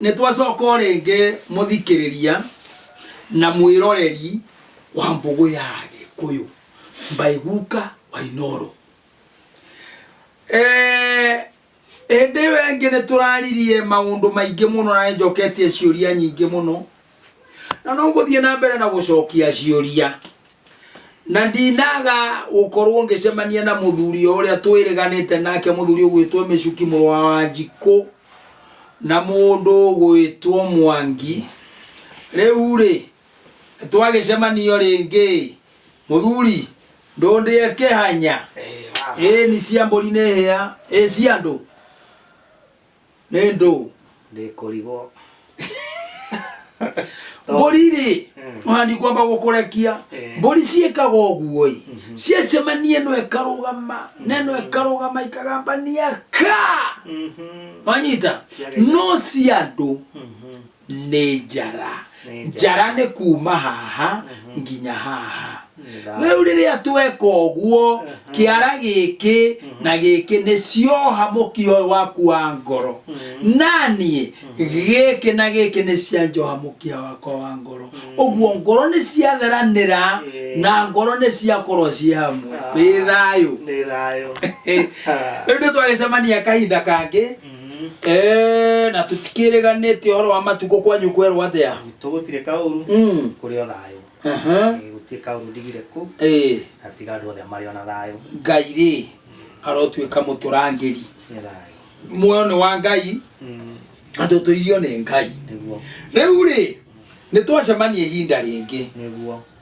Nĩ twacoka o rĩngĩ mũthikĩrĩria na mwĩroreri wa mbũgũ ya Gĩkũyũ by Guka wa Inooro. Eh, Hĩndĩ ĩyo ĩngĩ nĩ tũraririe maũndũ maingĩ mũno na nĩ njoketie ciũria nyingĩ mũno na no ngũthiĩ na mbere na gũcokia ciũria na ndinaga gũkorwo ngĩcemania na mũthuri o ũrĩa twĩrĩganĩte nake mũthuri ũgwĩtwo mĩcuki mũrũ wa wanjikũ na mũndũ ũgwĩtwo mwangi rĩu rĩ twagĩcemanio rĩngĩ mũthuri ndũndĩe kĩhanya ĩni cia mbũri nĩ hĩa ĩ cia andũ nĩ ndũ ndä kå rigwo mbũri rĩ mũhandi kwamba gũkũrekia Eh. mbũri ciĩkaga ũguo ĩ ciacemania ĩno ĩkarũgama na ĩno ĩkarũgama ikagambania ka wanyita Ciagega. no cia andũ nĩ njara Nĩ njara. njara nĩ kuma haha nginya haha rĩu rĩrĩa tweka ũguo kĩara gĩkĩ na gĩkĩ nĩ cioha mũkio ũyũ waku wa ngoro naniĩ gĩkĩ na gĩkĩ nĩ cianjoha mũkia wakwa wa ngoro ũguo ngoro nĩ ciatheranĩra Ĩĩ. na ngoro nĩ ciakorwo ciĩ hamwe wĩ thayũ nĩ thayũ rĩu nĩ twagĩcemania kahinda kangĩ Eh, na tũtikĩrĩganĩtie ũhoro wa matukũ kwanyu kwerwo atĩa gwitũ gũtirĩ kaũru Mm. kũrĩ o thayũ Aha. Eh, gũtirĩ kaũru ndigire kũ Eh, na tiga andũ othe marĩ ona thayũ ngai rĩ arotuĩka mũtũrangĩri nĩ thayũ muoyo nĩ wa ngai Mm, na tũtũirio nĩ ngai nĩguo rĩu rĩ nĩ twacemania ihinda rĩngĩ nĩguo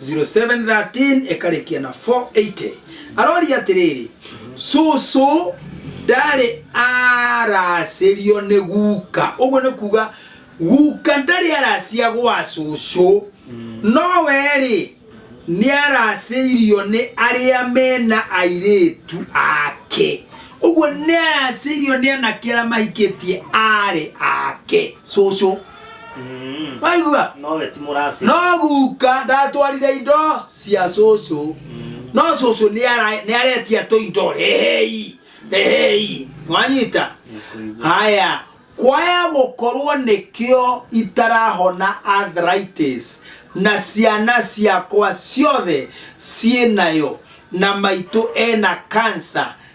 0713 ĩkarĩkia na 480 aroria atĩrĩrĩ cũcũ ndarĩ aracĩrio nĩ guka ũguo nĩ kuga guka ndarĩ aracia gwa cũcũ no werĩ nĩ aracĩirio nĩ arĩa mena airĩtu ake ũguo nĩ aracĩirio nĩ anake arĩa mahikĩtie arĩ ake cũcũ Mm. waigua Nowe ti mũracĩ. no guka ndatwarire indo cia cũcũ Mm. no cũcũ nĩara- nĩaretia tũ indo rehei rehei wanyita Nĩkũigua. haya kwaya gũkorwo nĩkĩo itarahona arthritis na ciana ciakwa ciothe ciĩ nayo na maitũ ena kansa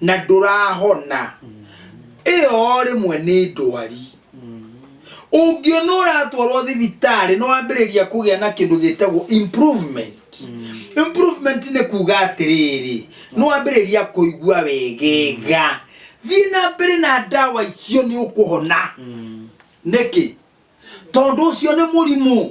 na ndũrahona ĩyo rĩmwe nĩ ndwari ũngĩona ũratwarwo thibitarĩ no wambĩrĩria kũgĩa na kĩndũ gĩtagwo improvement improvement nĩ kuga atĩrĩrĩ no wambĩrĩria kũigua wegega thiĩ na mbere na ndawa icio nĩ ũkũhona nĩkĩ tondũ ũcio nĩ mũrimũ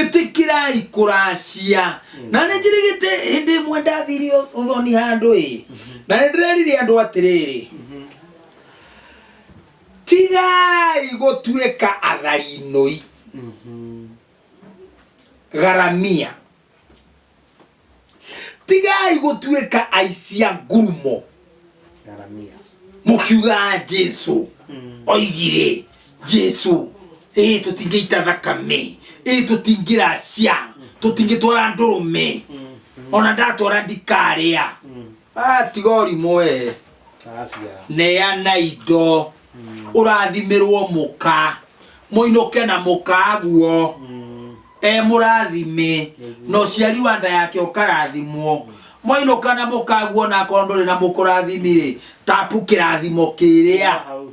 ĩtĩkĩrai kũracia na nĩ njirigĩte hĩndĩ ĩmwe ndathire ũ- ũthoni handũ ĩ na nĩ ndĩrerire andũ atĩrĩrĩ tigai gũtuĩka atharinũi garamia tigai gũtuĩka aici a ngurumo Garamia. mũkiugaga jesu Mm. oigire jesu ĩ tũtingĩita thakame ĩ tũtingĩracia tũtingĩtwara ndũrũme Mm. ona ndatwara ndikarĩa Mm. Ah, tiga ũrimũ wee Asia. neana indo ũrathimirwo mũka mũinũke na mũka guo Mm. e mũrathime na ũciari wa nda yake ũkarathimwo mwainũka na mũka guo na akorwo ndũrĩ na mũkũrathimi-rĩ tapu kĩrathimo kĩrĩa Hau.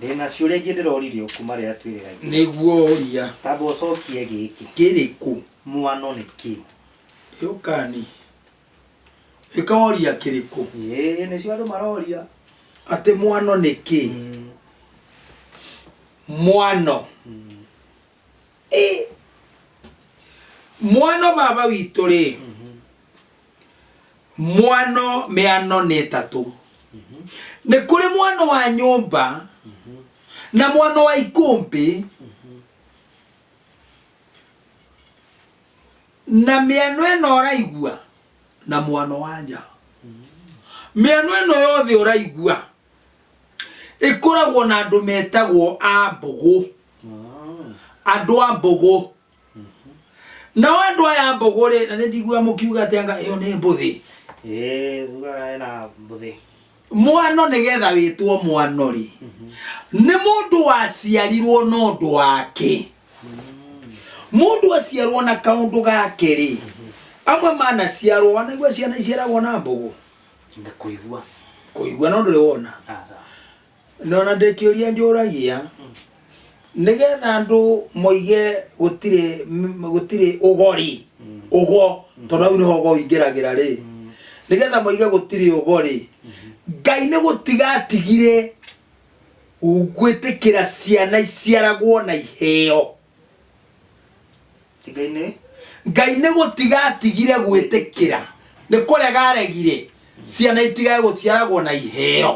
Ndĩ na ciũria ingĩ ndĩroririe kuma rĩrĩa twĩrĩgaithia. Nĩguo ũria. Tamba ũcokie gĩkĩ. Kĩrĩkũ? Mwano nĩ kĩ? Yũkani. Ĩkoria kĩrĩkũ? Ĩĩ, nĩcio andũ maroria. Atĩ mwano nĩ kĩ? Mwano. Mwano baba witũ rĩ mwano mĩano nĩ ĩtatũ nĩ kũrĩ mwano wa nyũmba na mwano wa ikũmbĩ na mĩano ĩno ũraigua na mwano wa nja mĩano ĩno yothe ũraigua ĩkoragwo na andũ metagwo a mbũgũ Ah. andũ a mbũgũ nao andũ aya a mbũgũ rĩ na nĩ ndigua mũkiuga atĩ anga ĩyo nĩ mbũthĩ Eh, thuga na mbuthi. mwano nĩ getha wĩtwo mwano rĩ nĩ mũndũ waciarirwo na ũndũ wake mũndũ aciarwo na kaũndũ gake rĩ amwe manaciarwo wanaigua ciana iciaragwo na mbũgũ nda kuigua kuigua no nduri wona asa nona ndĩkĩũria njũragia nĩgetha andũ moige gũtirĩ m- gũtirĩ ũgori ũgo tondũ hau nĩho ũgo ingĩragĩra rĩ nĩgetha moige gũtirĩ ũgori ngai nĩ gũtiga atigire gwĩtĩkĩra ciana iciaragwo na iheo Tigainĩ. ngai nĩ gũtiga atigire gwĩtĩkĩra nĩ kũrega aregire ciana itigage gũciaragwo na iheo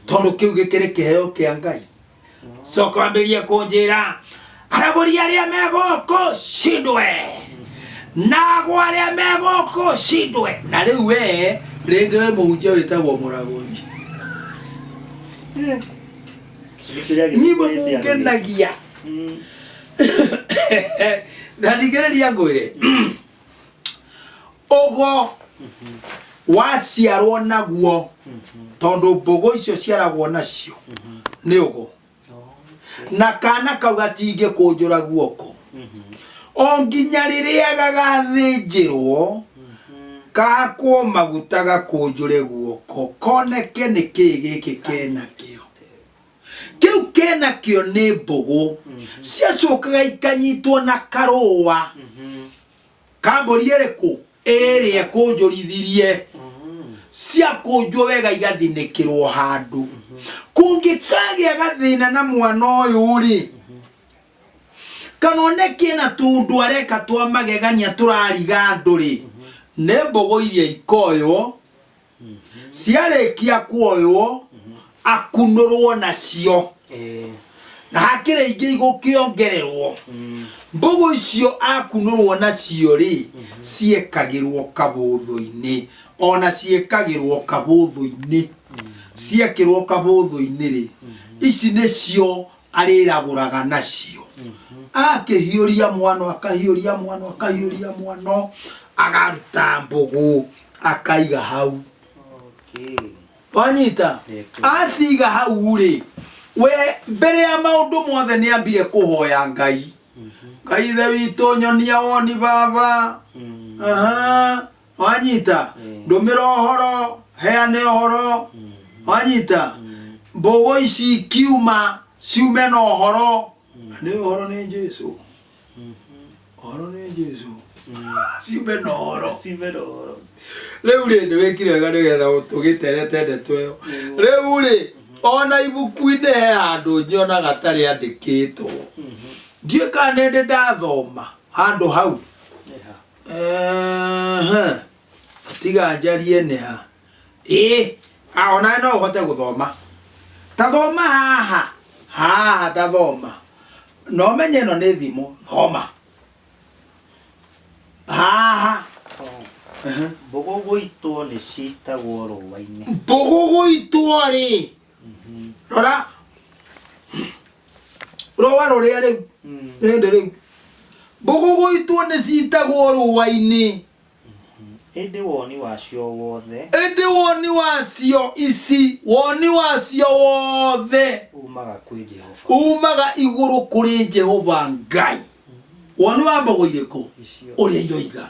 tondũ kĩu gĩkĩrĩ kĩheo kĩa ngai coka wambĩrĩrie kũnjĩra aragũri arĩa me gũkũ cindwe nago arĩa me gũkũ cindwe na rĩu wee rĩngĩ wĩ mũhunjia wĩtagwo mũragũri nyimwe mungenagia na ndingĩrĩria ngwĩre ũgo waciarwo naguo tondũ mbũgũ icio ciaragwo nacio nĩ ũgo na kana kau gatingĩkũnjũra guoko o nginya rĩrĩa gagathĩnjĩrwo gakwo maguta gakũnjũre guoko koneke nĩ kĩĩ gĩkĩ kenakĩo kĩu kenakĩo nĩ mbũgũ ciacokaga ikanyitwo na karũa kambũri ĩrĩkũ ĩrĩa kũnjũrithirie ciakũnjwo wega igathinĩkĩrwo handũ kũngĩkagĩa gathĩna na mwana ũyũ rĩ kana onekie na tundu areka twa magegania turariga andu ri ni mbogo iria ikoywo ciarĩkia kuoywo akunũrwo nacio Eh, na hakĩrĩ ingĩ igũkĩongererwo mm, mbũgũ icio akunũrwo nacio rĩ ciĩkagĩrwo kabũthũ-inĩ ona ciĩkagĩrwo kabũthũ-inĩ ciekĩrwo kabũthũ-inĩ rĩ ici nĩcio arĩragũraga nacio akĩhiũria mwano akahiũria mwano akahiũria mwano agaruta mbũgũ akaiga hau Okay. wanyita Nĩkĩ. aciga hau rĩ we mbere ya maũndũ mothe nĩ ambire kũhoya ngai ngai ithe witũ nyonia woni baba Mm. Aha. wanyita ndũmĩra ũhoro heane ũhoro wanyita mbũgũ ici kiuma ciume na ũhoro nĩ ũhoro nĩ jesu ũhoro nĩ jesu ciume na ũhoro Cimero. rĩu rĩ nĩ wĩkire wega nĩgetha tũgĩterete ndeto ĩyo rĩu rĩ ona ibuku-inĩ he handũ nyona gatarĩ andĩkĩtwo ndiũĩ kana nĩ ndĩ ndathoma handũ hau Eha. Ehe. tiga njarie nĩ ha ĩ a onawe no ũhote gũthoma ta thoma haha haha ta thoma na ũmenye ĩno nĩ thimũ thoma haha Ehe. Mbũgũ gũitwo nĩ citagwo rũũa-inĩ. mbũgũ gũitwo rĩ rora rũa rũrĩa rĩu hĩndĩ rĩu mbũgũgũitwo nĩ citagwo rũa-inĩ ĩndĩ woni wacio wothe ĩndĩ woni wacio ici woni wacio wothe umaga kwĩ jehova umaga igũrũ kũrĩ jehova ngai woni wa mbogo irĩkũ icio ũrĩa iroiga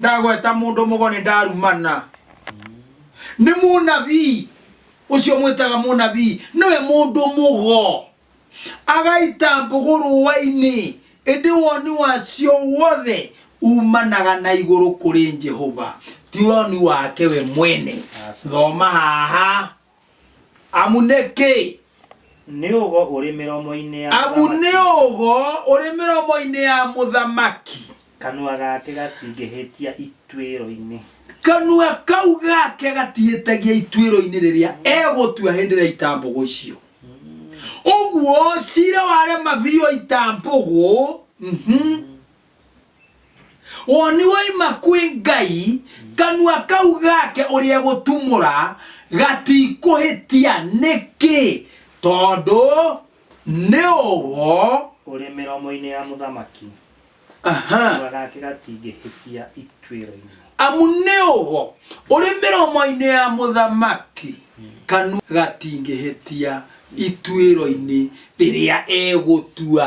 ndagweta mũndũ mũgo nĩ ndarumana nĩ mũnabii ũcio mwĩtaga mũnabii nĩwe mũndũ mũgo agaita mbũgũ rũa-inĩ ĩndĩ woni wacio wothe umanaga na igũrũ kũrĩ jehova ti woni wake we mwene thoma haha Amu nĩ kĩĩ? Nĩ ũgo ũrĩ mĩromo-inĩ ya Amu mũthamaki. nĩ ũgo ũrĩ mĩromo-inĩ ya mũthamaki. Kanua gake gatingĩhĩtia ituĩro-inĩ. Kanua kau gake gatihĩtagia ituĩro-inĩ rĩrĩa egũtua hĩndĩ ĩrĩa itambũgũ icio. Ũguo cira warema biũ itambũgũ. Mhm. woni woima kwĩ ngai kanua kau gake ũrĩa egũtumũra gatikũhĩtia nĩkĩ tondũ nĩ ũgo ũrĩ mĩromo-inĩ ya mũthamaki aha kanua gake gatingĩhĩtia ituĩro-inĩ amu nĩ ũgo ũrĩ mĩromo-inĩ ya mũthamaki kanua gatingĩhĩtia ituĩro-inĩ rĩrĩa egũtua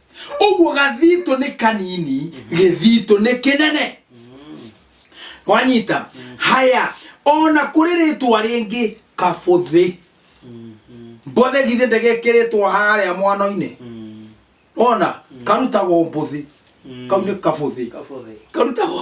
ũguo gathitũ nĩ kanini gĩthitũ nĩ kĩnene wanyita haya ona kũrĩ rĩtwa rĩngĩ kabũthĩ mbũthĩ githĩ ndegekĩrĩtwo harĩa mwano-inĩ ona karutagwo mbũthĩ kau nĩ kabũthĩ karutagwo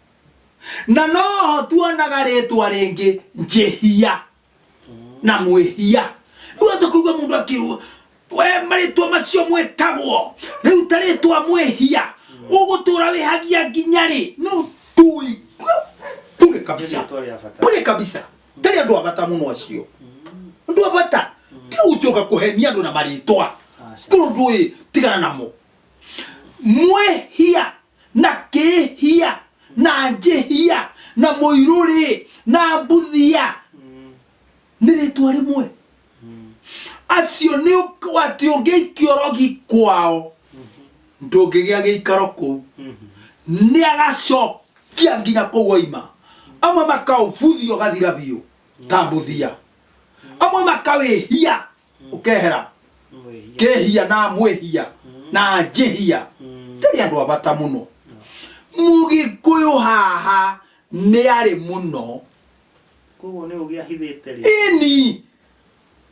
na noho tuonaga rĩtwa rĩngĩ njĩhia na mwĩhia rĩu ata kũigua mũndũ akĩrwo we marĩtwa macio mwĩtagwo rĩu ta rĩtwa mwĩhia ũgũtũra wĩhagia nginya rĩ no tui bure kabisa Rĩtwa rĩa bata. bure kabisa tarĩ andũ abata mũno acio andũ abata ti gũcoka kũhenia andũ na marĩtwa Aca. korwo ndũĩ tigana namo mwĩhia na kĩhia na njĩhia na mũirũrĩ na mbuthia nĩ rĩtwa rĩmwe acio nĩ ũk- atĩ ũngĩikio rogi kwao ndũngĩgĩa gĩikaro kũu nĩ agacokia nginya kũu oima amwe makaũbuthia ũgathira biũ ta mbuthia amwe makawĩhia ukehera Mwĩhia. kehia na mwehia na njehia Mm. tari andu abata muno mugikuyu haha ni ari muno Koguo nĩ ũgĩ ahithĩte rĩ. ini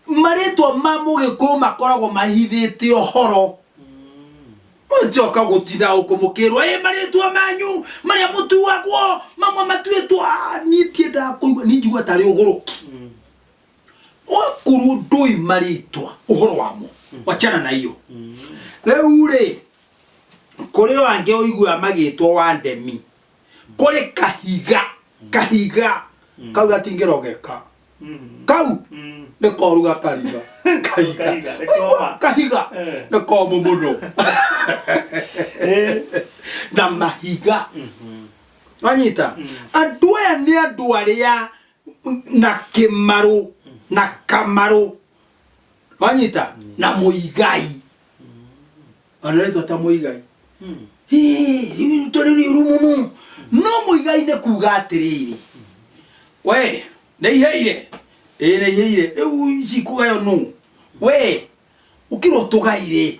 marĩtwa ma mũgĩkũyũ makoragwo mahithĩte ũhoro Mm. njoka gũtinda ũkũmũkĩrwo ĩ marĩtwa manyu marĩa mũtuagwo mamwe matuĩtwo Ah, niĩ tiendaga kũigua niĩ njigua tarĩ ũgũrũki Mm. wakorwo ndũĩ marĩtwa ũhoro wamo wachana na iyo rĩu rĩ kũrĩ o angĩ ũigua magĩtwo wa ndemi kũrĩ kahiga kahiga kau gatingĩrogeka kau nĩ koruga kariga kahiga Kahiga, nĩ Ũigua, koma. kahiga Eh. nĩ komũ mũno Eh. na mahiga wanyita andũ aya nĩ andũ arĩa na kimaru na kamaru wanyita na muigai ona ritwa ta muigai tũrĩ riuru mũno no mũigai nĩ kuga atĩrĩrĩ we nĩ iheire ĩ nĩ iheire rĩu ici kũgayo nũ we ũkĩrwo tũgaire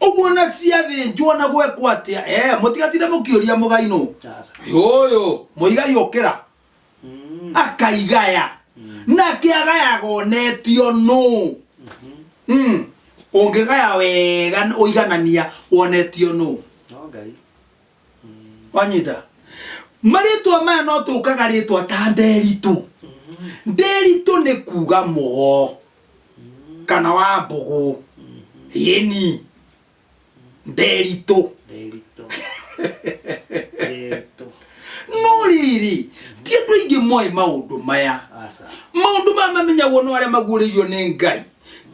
ũguo na ciathĩnjwo na gwekwo atĩa ee mũtigatinde mũkĩũria mũgai nũ Sasa. ũyũ mũigai ũkĩra Mm. akaigaya nake agayaga onetio nũ Mm. ũngĩgaya wega ũiganania wonetio nũ No ngai. wanyita marĩtwa maya no tũkaga rĩtwa ta nderitũ nderitũ nĩ kuga mũgo kana wa mbũgũ ĩni nderitũ Nderitũ. Nderitũ. no rĩrĩ ti andũ aingĩ moĩ maũndũ maya Aca. maũndũ maya mamenyagwo nĩ arĩa maguũrĩirio nĩ ngai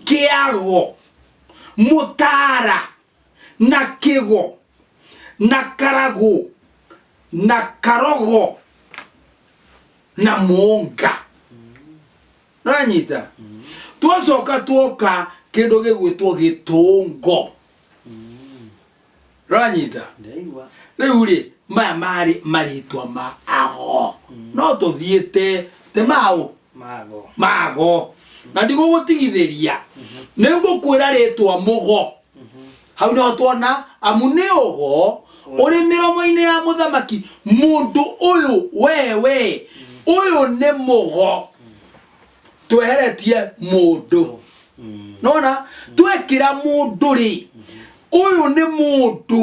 kĩago mũtara na kĩgo na karagũ na karogo na mũnga nanyita twacoka twoka kindu gigwitwo gitungo ranyita ndaigua riu ri maya mari maritwa ma ago no tuthiite ti mau mago mago na ndigũgũtigithĩria nĩ ngũkwĩra rĩtwa mũgo hau no tuona amu nĩ ũgo ũrĩ mĩromo-inĩ ya mũthamaki mũndũ ũyũ wewe ũyũ nĩ mũgo tweheretie mũndũ nona twekĩra mũndũ rĩ ũyũ nĩ mũndũ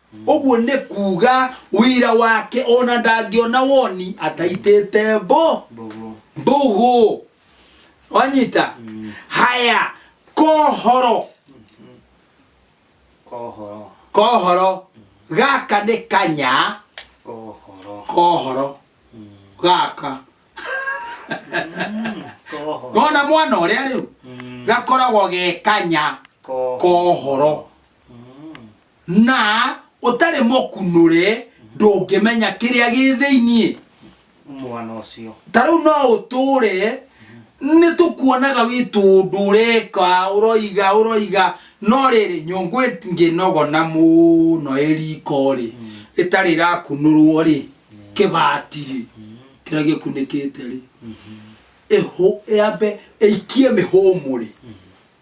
ũguo nĩ kuuga wĩra wake ona ndangĩona woni ataitĩte mbo Mbogo. mbũgũ wanyita haya kohoro Kohoro. kohoro gaka nĩ kanya Kohoro. kohoro gaka Kohoro. ngona mwana ũrĩa rĩu Mm. gakoragwo ge kanya Kohoro. kohoro na ũtarĩ mũkunũre ndũngĩmenya kĩrĩa gĩ thĩiniĩ mwana ũcio ta rĩu no ũtũre nĩ tũkuonaga wĩ tũndũ ũreka ũroiga ũroiga no rĩrĩ nyũngũ ĩngĩnogona mũno ĩriko rĩ ĩtarĩ ĩrakunũrwo rĩ kĩbati rĩ kĩrĩa gĩkunĩkĩte rĩ ĩhũ- yambe ĩikie mĩhũmũ rĩ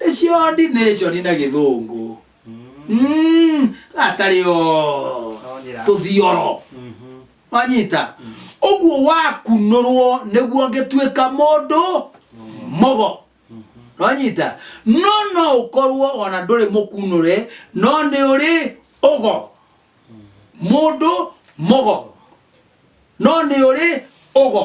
nĩcio ordination na gĩthũngũ Mm, gatarĩ o tũthioro wanyita ũguo wakunũrwo nĩguo ngĩtuĩka mũndũ mũgo wanyita no no ũkorwo ona ndũrĩ mũkunũre no nĩ ũrĩ ũgo mũndũ mũgo no nĩ ũrĩ ũgo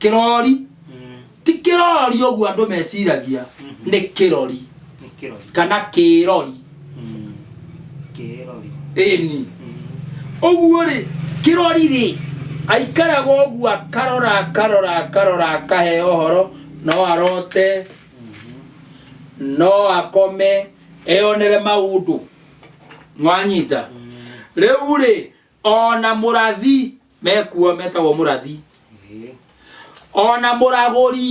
kĩrori ti kĩrori ũguo andũ meciragia nĩ kĩrori Nĩ kĩrori. kana kĩrori Mm. Kĩrori. ĩni ũguo rĩ kĩrori rĩ aikaraga ũguo akarora akarora akarora akahe ũhoro no arote no akome eyonere maũndũ mwanyita rĩu rĩ ona mũrathi mekuo metagwo mũrathi Ĩĩ. ona mũragũri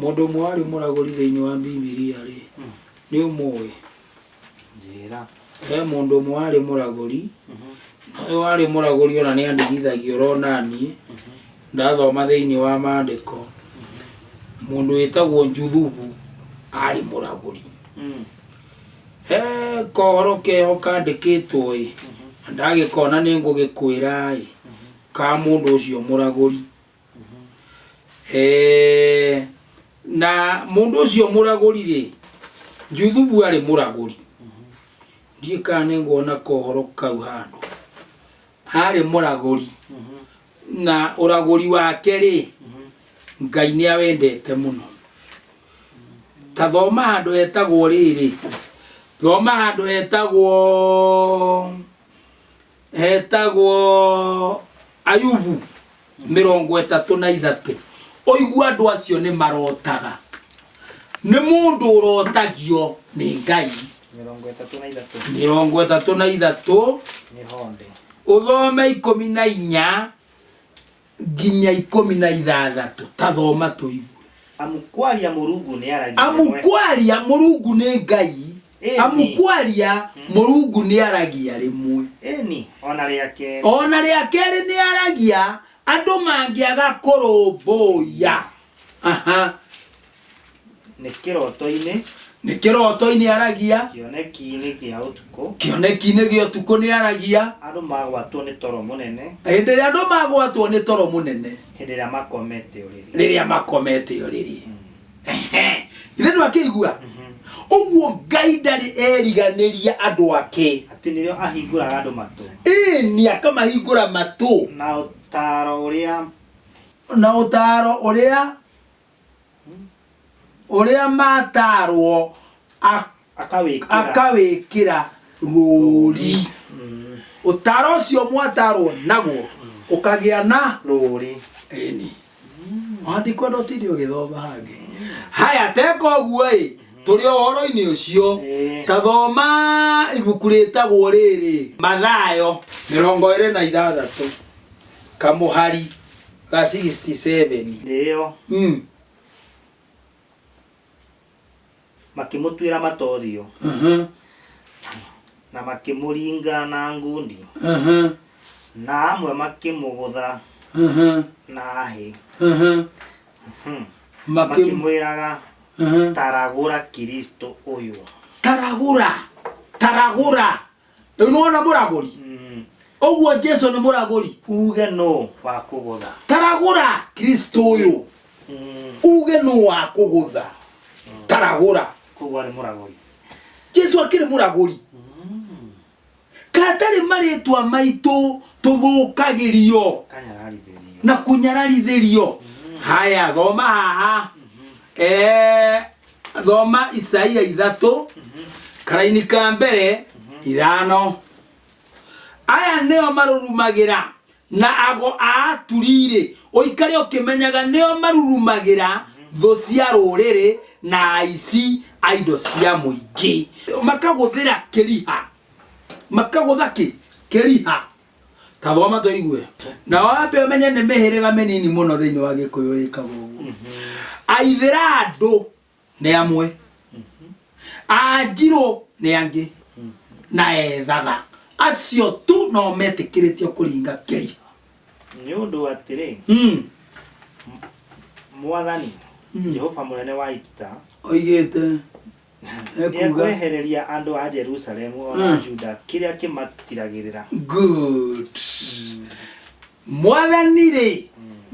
mũndũ ũmwe warĩ mũragũri thĩinĩ wa bibilia rĩ nĩ ũmũĩ njĩra he mũndũ ũmwe warĩ mũragũri na ũyũ warĩ mũragũri ona nĩ andigithagia ũrona niĩ ndathoma thĩinĩ wa maandĩko mũndũ wĩtagwo njuthubu arĩ mũragũri He kohoro keho kandĩkĩtwo-ĩ, na ndagĩkona nĩngũgĩkwĩra-ĩ, ka mũndũ ũcio mũragũri. Eh, na mũndũ ũcio mũragũri-rĩ, Juthubu arĩ mũragũri. Ndiũĩ kana nĩngwona kohoro kau handũ. harĩ mũragũri na ũragũri wake rĩ ngai nĩ awendete mũno ta thoma handũ hetagwo rĩrĩ thoma handũ hetagwo hetagwo ayubu mĩrongo ĩtatũ na ithatũ ũigua andũ acio nĩ marotaga nĩ mũndũ ũrotagio nĩ ngai mĩrongo ĩtatũ na ithatũ mĩrongo ĩtatũ na ithatũ nĩ honde ũthome ikũmi na inya nginya ikũmi na ithathatũ tathoma tũigu amu kwaria mũrungu nĩ aragia amu kwaria mũrungu nĩ ngai Ĩni. amu kwaria mũrungu nĩ aragia rĩmwe Ĩni, ona rĩa kerĩ. o na rĩa kerĩ nĩ aragia andũ mangĩaga kũrũmbũiya Aha. Nĩ kĩroto-inĩ, nĩ kĩroto-inĩ aragia kĩoneki-inĩ gĩa ũtukũ, kĩoneki-inĩ gĩa ũtukũ nĩ aragia andũ magwatwo nĩ toro mũnene hĩndĩ ĩrĩa andũ magwatwo nĩ toro mũnene hĩndĩ ĩrĩa makomete ũrĩrĩ. rĩrĩa makomete ũrĩrĩ Ehe. ithe ndå akä igua å guo ngai ndarä eriganä ria andå ake atĩ nĩrĩo ahingũraga andũ matũ ĩni akamahingå ra matå na ũtaaro ũrĩa na å taro å rä a å rä a matarwo akawĩkĩra akawĩkĩra rũũri Mm, ũtaro ũcio mwatarwo naguo ũkagĩa na rũũri ĩni wandikwa ndotinde ũgĩthoma hangĩ haya teka ũguo ĩ tũrĩ o ũhoro-inĩ ũcio Ĩĩ. ta thoma ibuku rĩtagwo rĩrĩ mathayo mĩrongo ĩrĩ na ithathatũ kamũhari ga 67 nĩyo mm. makĩmũtuĩra matorio Mhm. na makĩmũringa na ngundi Mhm. na amwe makĩmũgũtha Mhm. na hĩ Mhm. Hmm. Makĩ- makĩmwĩraga Mhm. taragũra kristo ũyũ taragura taragura rĩu nĩwona mũragũri Mm. ũguo jesu nĩ mũragũri uge nũ wa kũgũtha taragũra kristo ũyũ Mm. uge nũ wa kũgũtha taragũra koguo arĩ mũragũri jesu akĩrĩ mũragũri Mm. katarĩ marĩtwa maitũ tũthũkagĩrio kanyararithĩrio na kũnyararithĩrio haya thoma haha eh, thoma isaia ithatå karaini ka mbere ithano aya nĩo marurumagĩra na ago a aturi-rĩ ũikare ũkĩmenyaga nĩo marurumagĩra thũ cia rũrĩrĩ na aici a indo cia mũingĩ makagũthĩra kĩriha makagũtha kĩ kĩriha ta thoma tũigue na wambe ũmenye nĩ mĩhĩrĩga mĩnini mũno thĩinĩ wa gĩkũyũ ĩkaga ũguo aithĩra andũ nĩ amwe anjirũ nĩ angĩ na ethaga acio tu no metĩkĩrĩtio kũringa kĩri nĩ ũndũ atĩrĩ Mm, mwathani Mm. jehova mũnene wa ita oigĩte Nĩ ekuga Nĩekwehereria andũ a Jerusalemu o na Juda kĩrĩa kĩmatiragĩrĩra. good mwathani rĩ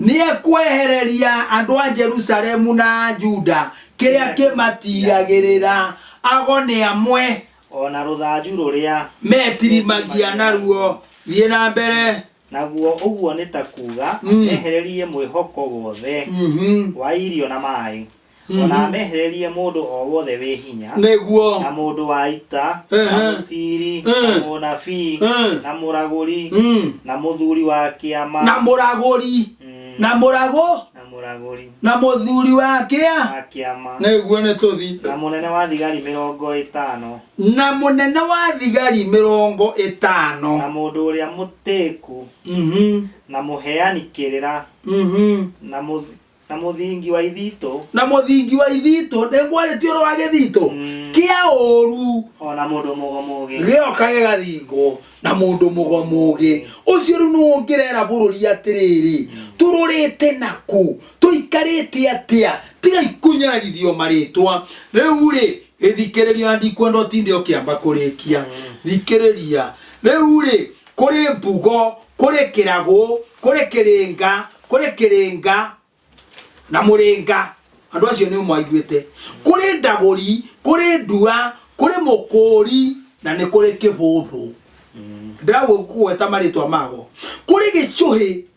nĩekwehereria andũ a jerusalemu na a juda kĩrĩa kĩmatiragĩrĩra ago nĩ amwe O na rũthanju rũrĩa metirimagia naruo thiĩ na mbere naguo ũguo nĩ ta kuuga Mm. mehererie mwĩhoko wothe Mhm. wa irio na maĩ O na amehererie mũndũ o wothe wĩ hinya, na nĩguo mũndũ wa ita, na Ehe. mũciiri, na Eh. mũnabii, Eh. na mũragũri, Mm. na mũthuri wa kĩama, na mũragũri Mm. na mũragũ na mũragũri na mũthuri wa kĩa wa kĩama, nĩguo nĩ tũthi na mũnene wa thigari mĩrongo ĩtano, na mũnene wa thigari mĩrongo na ĩtano mũndũ ũrĩa mũtĩku, Mhm, na mũheani kĩrĩra, mhm. na mũth- Na mũthingi wa ithitũ. na mũthingi wa ithitũ nĩngwarĩtie ũrĩ wa gĩthitũ Mm. kĩa ũru O na mũndũ mũgo mũgĩ. gĩoka gĩgathingwo na mũndũ mũgomũgĩ ũcio rĩu nĩwe ũngĩrera bũrũri atĩrĩrĩ tũrũrĩte naku tũikarĩte atĩa tiga ikunyararithio marĩtwa rĩu rĩ gĩthikĩrĩria ndikwenda ũtinde ũkĩamba kũrĩkia thikĩrĩria rĩu rĩ kũrĩ mbugo kũrĩ kĩragũ kũrĩ kĩrĩnga kũrĩ kĩrĩnga na mũrĩnga andũ acio nĩ mwaiguĩte kũrĩ ndagũri kũrĩ ndua kũrĩ mũkũũri na nĩ kũrĩ kĩbũthũ ndĩragwĩkuweta marĩtwa mago kũrĩ gĩcũhĩ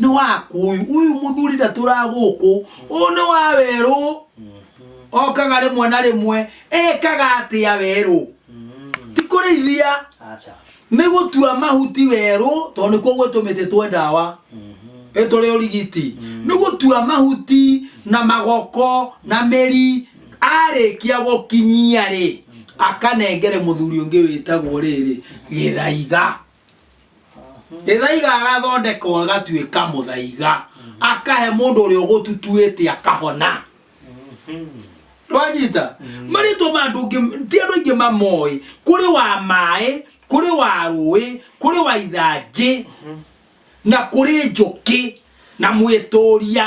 nĩ waku ũyũ ũyũ mũthuri ndatũra gũkũ ũyũ nĩ wa werũ okaga rĩmwe na rĩmwe ekaga atĩa werũ ti kũrĩithia acha nĩ gũtua mahuti werũ tondũ nĩkuo gwĩtũmĩte twe ndawa ĩtũrĩ ũrigiti nĩ gũtua mahuti na magoko na mĩri arĩkia gũkinyia rĩ akanengere mũthuri ũngĩ wĩtagwo rĩrĩ gĩthaiga ithaiga agathondekwo agatuĩka mũthaiga akahe mũndũ ũrĩa ũgũtutuĩte akahona rwanyita marĩtwa ma andũ ũngĩ ti andũ aingĩ mamoĩ kũrĩ wa maĩ kũrĩ wa rũĩ kũrĩ wa ithanjĩ na kũrĩ njũkĩ na mwĩtũria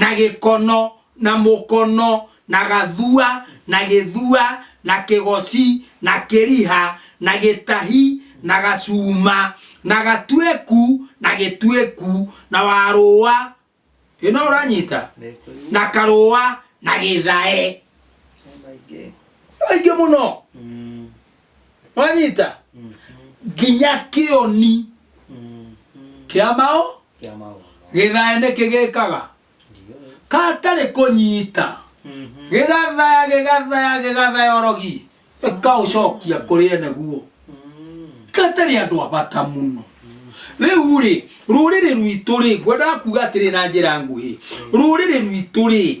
na gĩkono na mũkono na gathua na gĩthua na kĩgoci na kĩriha na gĩtahi na gacuma na gatuĩku na gĩtuĩku na warũa ĩno ũranyita na karũa na gĩthae maingĩ aingĩ mũno mwanyita Mhm. nginya kĩoni Mhm. kĩa mao Kĩa maũndũ. gĩthaya nĩ kĩgĩkaga Ndio. katarĩ kũnyita Mhm. gĩgathaya gĩgathaya gĩgathaya orogi ĩkaũcokia kũrĩ ene guo Mhm. katarĩ andũ abata mũno rĩu rĩ rũrĩrĩ rwitũ rĩ ngwendaga kuga atĩrĩ na njĩra nguhĩ rũrĩrĩ rwitũ rĩ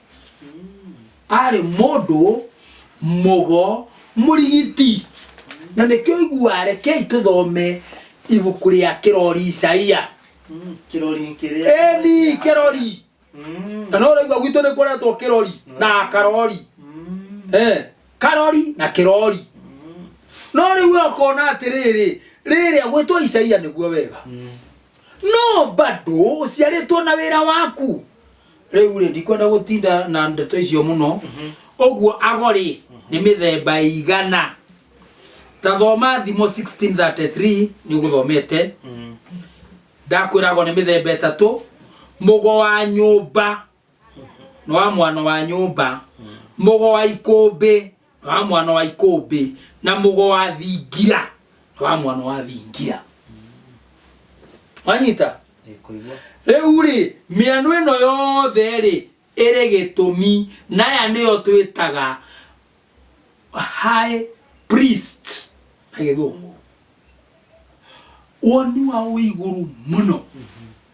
arĩ mũndũ mũgo mũrigiti na nĩkĩo igua rekei tũthome ibuku rĩa kĩrori isaia Kirori kĩrĩa. eni kĩrori Mm. na no ũraigua gwitũ nĩ kũretwo kĩrori na karori Mm. Eh, karori na kĩrori no rĩu we ũkona atĩrĩrĩ rĩrĩa gwĩtwo isaia nĩguo wega no bado ũciarĩtwo na wĩra waku rĩu rĩ ndikwenda gũtinda na ndeto icio mũno ũguo ago rĩ nĩ mĩthemba ĩigana ta thoma thimo 1633 nĩ ũgũthomete ndakwĩra ago nĩ mĩthemba ĩtatũ mũgo wa nyũmba nĩ wa mwana wa nyũmba mũgo wa ikũmbĩ na wa mwana wa ikũmbĩ na mũgo wa thingira na wa mwana wa thingira wanyita Nĩkũigua. rĩu rĩ mĩano ĩno yothe rĩ ĩrĩ gĩtũmi naya nĩyo twĩtaga high priest na gĩthũngũ woni wao wĩ igũrũ mũno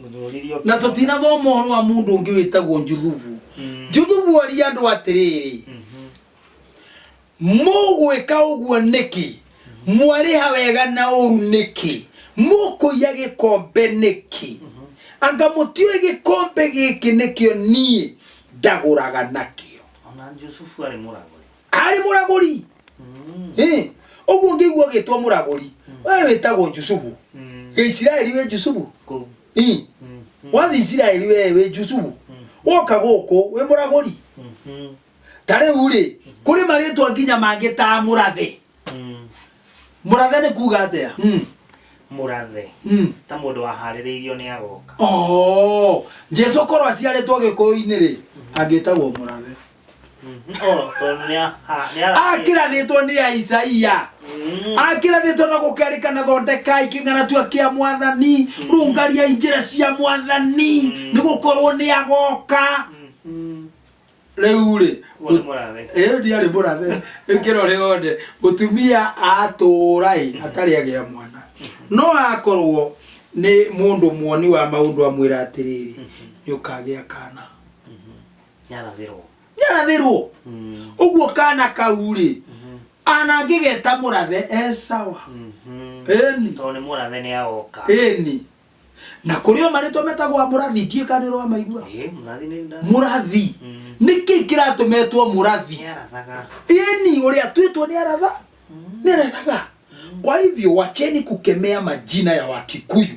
Mũthũriri ũkĩmwona. na tũtinathoma ũhoro wa mũndũ ũngĩ wĩtagwo njuthubu Mm. njuthubu aria andũ atĩrĩrĩ Mhm. mũgwĩka ũguo nĩkĩ mwarĩha wega na ũru nĩkĩ mũkũiya gĩkombe nĩkĩ anga mũtiũĩ gĩkombe gĩkĩ nĩkĩo niĩ ndagũraga nakĩo Ona Jusufu arĩ mũragũri. arĩ mũragũri Ĩ, ũguo ngĩigua ũgĩtwo mũragũri we wĩtagwo jusubu gĩisiraeli wĩ jusubu Kũu. Ĩ, wathi isiraeli we wĩ jusubu woka gũkũ wĩ mũragũri Mhm. ta rĩu rĩ kũrĩ marĩtwa nginya mangĩ ta mũrathe Mm. mũrathe nĩ kuga atĩa Mm, mũrathe mm. ta mũndũ waharĩrĩirio nĩ agoka Oh, jesu korwo aciarĩtwo gĩkũyũ-inĩ rĩ angĩtagwo mũrathe Oh, tondũ nĩ a- a- nĩ ara- akĩrathĩtwo nĩ aisaia Mm. akĩrathĩtwo na gũkerĩkana thondekai kĩng'anatua kĩa mwathani rũngariai njĩra cia mwathani Mm. nĩ gũkorwo nĩ agoka Mhm. rĩu rĩ Ũguo nĩ mũrathe. ĩyo ndiarĩ mũrathe ĩkĩro rĩothe mũtumia atũũra ĩ atarĩ agĩa mwana no akorwo nĩ mũndũ muoni wa maũndũ amwĩra atĩrĩrĩ nĩ ũkagĩa kana yarathirwo nyarathirwo Mm, uguo kana kau rĩ mhm, ana ngĩgeta mũrathe esawa mhm. eni tondũ nĩ mũrathe nĩ agoka eni na kũrĩ o marĩtwa metagwo a mũrathi ndiĩ kana nĩrwa maigua Ĩ, mũrathi nĩ nda mũrathi Mm. nĩkĩ kĩratũmetwo mũrathi nĩ arathaga eni ũrĩa twĩtwo nĩ aratha nĩ arathaga kwa hivyo wacheni kukemea majina ya wakikuyu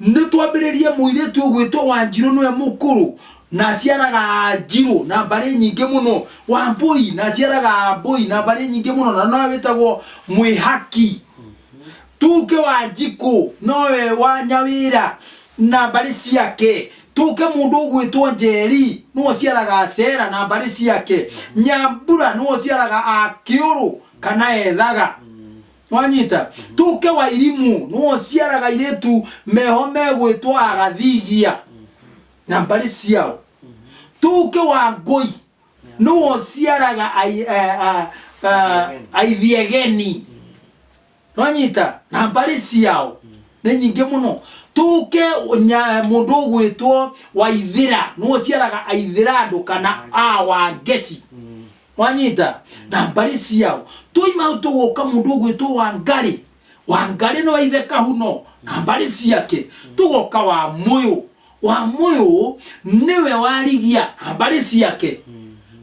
Nĩ twambĩrĩrie mũirĩtu ũgwĩtwo Wanjirũ nĩwe mũkũrũ na aciaraga Anjirũ na mbarĩ nyingĩ mũno, Wambũi na aciaraga Ambũi na mbarĩ nyingĩ mũno na nowe wĩtagwo Mwĩhaki, tuke Wanjikũ nowe wa Nyawĩra na mbarĩ ciake, tũke mũndũ ũgwĩtwo Njeri nĩwe ũciaraga Acera na mbarĩ ciake, Nyambura nĩwe ũciaraga Akĩũrũ kana Ethaga mwanyita tuke wairimu nuociaraga iretu meho megwĩtwo agathigia na mbarĩ ciao tuke wa ngũi nuociaraga ai- eh, ah, ah, aithiegeni nwanyita na mbarĩ ciao nĩ nyingĩ mũno tuke nya- mũndũ ũgwĩtwo waithĩra nuociaraga aithĩra andũ kana a wangeci mwanyita na mbari ciao twaima tuguka mundu ugwitwo wangari wangari no ithe kahuno na mbari ciake tugoka wa muyu wa muyu niwe warigia na mbari ciake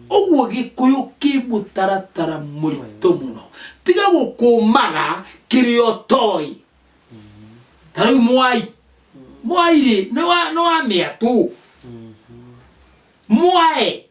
uguo gikuyu ki mutaratara murito muno tiga gukumaga kirio toi tariu mwai mwai ri ni wa ni wa miatu mwae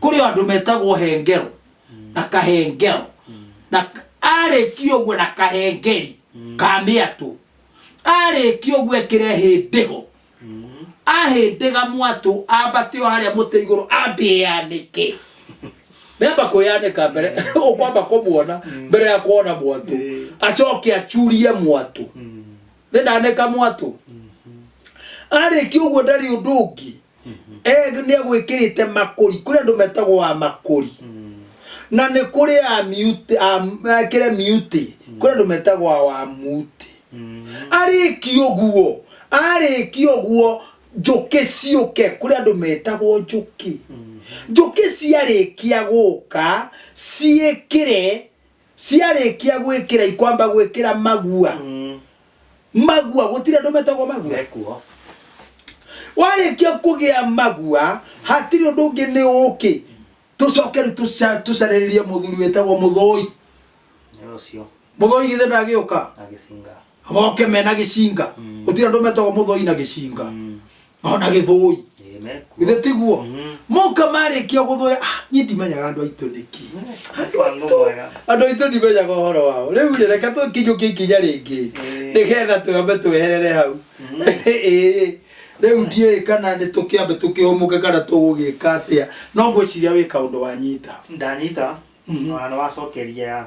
kuri andu metagwo hengero na kahengero na arĩkia ũguo na kahengeri ka mĩatũ arĩkia ũguo ekĩre hĩndĩgo ahĩndĩga mwatũ ambate o harĩa mũtĩ igũrũ ambĩanĩke nĩamba kwĩyanĩka mbere ũkwamba kũmuona mbere ya kuona mwatũ acoke acurie mwatũ nĩndanĩka mwatũ arĩkia ũguo ndarĩ ũndũ ũngĩ Eg nĩ egwĩkĩrĩte makũri kũrĩ andũ metagwo wa makũri na nĩ kũrĩ a mute a ekĩre mute kũrĩ andũ metagwo a wa mute arĩki ũguo arĩki ũguo njũkĩ ciũke kũrĩ andũ metagwo njũkĩ njũkĩ ciarĩkia gũka ciĩkĩre ciarĩkia gwĩkĩra ikwamba gwĩkĩra magua Mm. magua gũtirĩ andũ metagwo magua Mekuo. warĩkia kũgĩa magua hatirĩ ũndũ ũngĩ nĩ ũkĩ tũcoke rĩu tũca- tũcarĩrĩrie mũthuri wĩtagwo mũthoi Nĩ ũcio. mũthoi githĩ ndagĩũka Agĩcinga. moke mena gĩcinga Mm. gũtirĩ andũ metagwo mũthoi na gĩcinga Mm. ona gĩthũi Amen. githĩ tiguo Mhm. moka marĩkia gũthũya ah, niĩ ndimenyaga andũ aitũ nĩkĩ andũ aitũ Mwega. andũ aitũ ndimenyaga ũhoro wao rĩu rĩ reke tũkinyũkie ikinya rĩngĩ Ĩĩ. nĩgetha twambe tweherere hau Mhm. Ĩĩ. rĩu ndiũĩ kana nĩ tũkĩambe tũkĩhũmũke kana tũgũgĩka atĩa no ngwĩciria wĩ kaũndũ wanyita ndanyita Mhm. ona nĩ wacokeria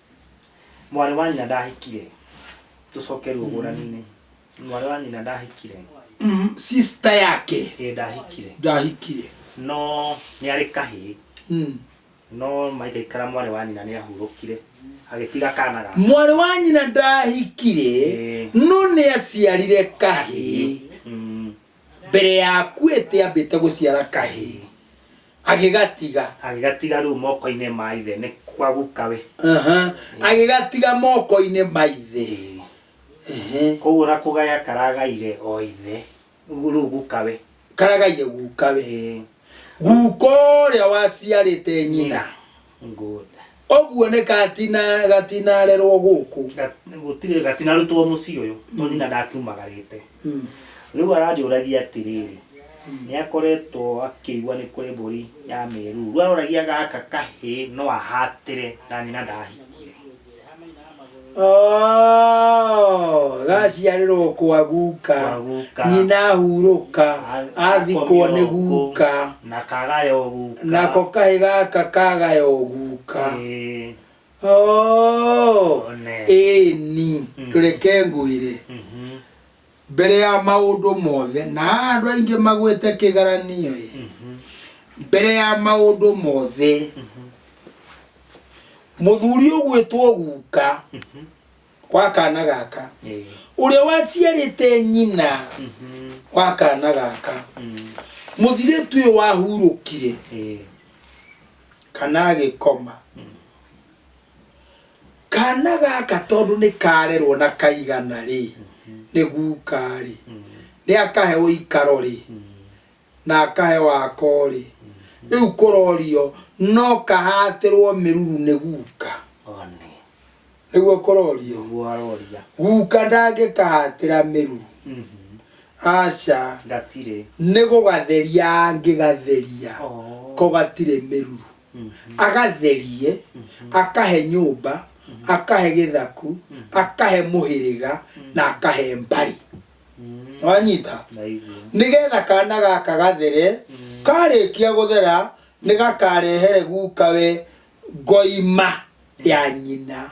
mwarĩ wa nyina ndahikire tũcoke ruo ngũrani-inĩ mwarĩ wa nyina ndahikire Mm, sister yake ĩ ndahikire ndahikire no nĩ arĩ kahĩĩ Mm. no maikaikara mwarĩ wa nyina nĩ ahurũkire agĩtiga kana gake mwarĩ wa nyina ndahikire Eh. no nĩ aciarire kahĩĩ Mm, mbere ya akuĩte ambĩte gũciara kahĩĩ agĩgatiga agĩgatiga rĩu moko-inĩ ma ithe nĩ kwa guka we Aha. agĩgatiga moko-inĩ ma ithe Ĩĩ. Ehe. koguo na kũgaya karagaire o ithe rĩu guka we karagaire guka we Ĩĩ. guka ũrĩa waciarĩte nyina Good. ũguo nĩ katina gatinarerwo gũkũ Ga- gũtirĩ gatinarutwo mũciĩ ũyũ no nyina ndakiumagarĩte Mm. rĩu aranjũragia atĩrĩrĩ nĩ akoretwo akĩigua nĩ kũrĩ mbũri ya mĩruu rĩu aroragia gaka kahĩ no ahatĩre na nyina ndahikie Oh, gaciarĩrwo kwa guka Kwa guka. nyina hurũka athikwo nĩ guka na kagayo guka nako kahĩ gaka kagayo guka Ĩĩ, Oh, One. ĩni Mm. tũreke ngwĩre mhm, Mbere ya maũndũ mothe, na haha andũ aingĩ magwĩte kĩgaranio ĩ, mbere ya maũndũ mothe, mũthuri ũgwĩtwo guka wa kana gaka, Ĩĩ. ũrĩa waciarĩte nyina Mhm. wa kana gaka, Mm. mũthirĩtu ũyũ wahurũkire Ĩĩ. kana agĩkoma Kana gaka tondũ nĩ karerwo na kaigana rĩ, nĩ guka rĩ, nĩ akahe ũikaro rĩ, na akahe wako rĩ. Rĩu kũrorio no kahatĩrwo mĩruru nĩ guka. One. Nĩguo kũrorio. Nĩguo aroria. Guka ndangĩkahatĩra mĩruru. Mhm. Aca. Gatirĩ. Nĩ gũgatheria angĩgatheria. Oh. Ko gatirĩ mĩruru. agatherie akahe nyũmba akahe gĩthaku akahe mũhĩrĩga na akahe mbari wanyita Ndaigua. nigetha kana gaka gathere karĩkia gũthera nĩgakarehere gukawe ngoima ya nyina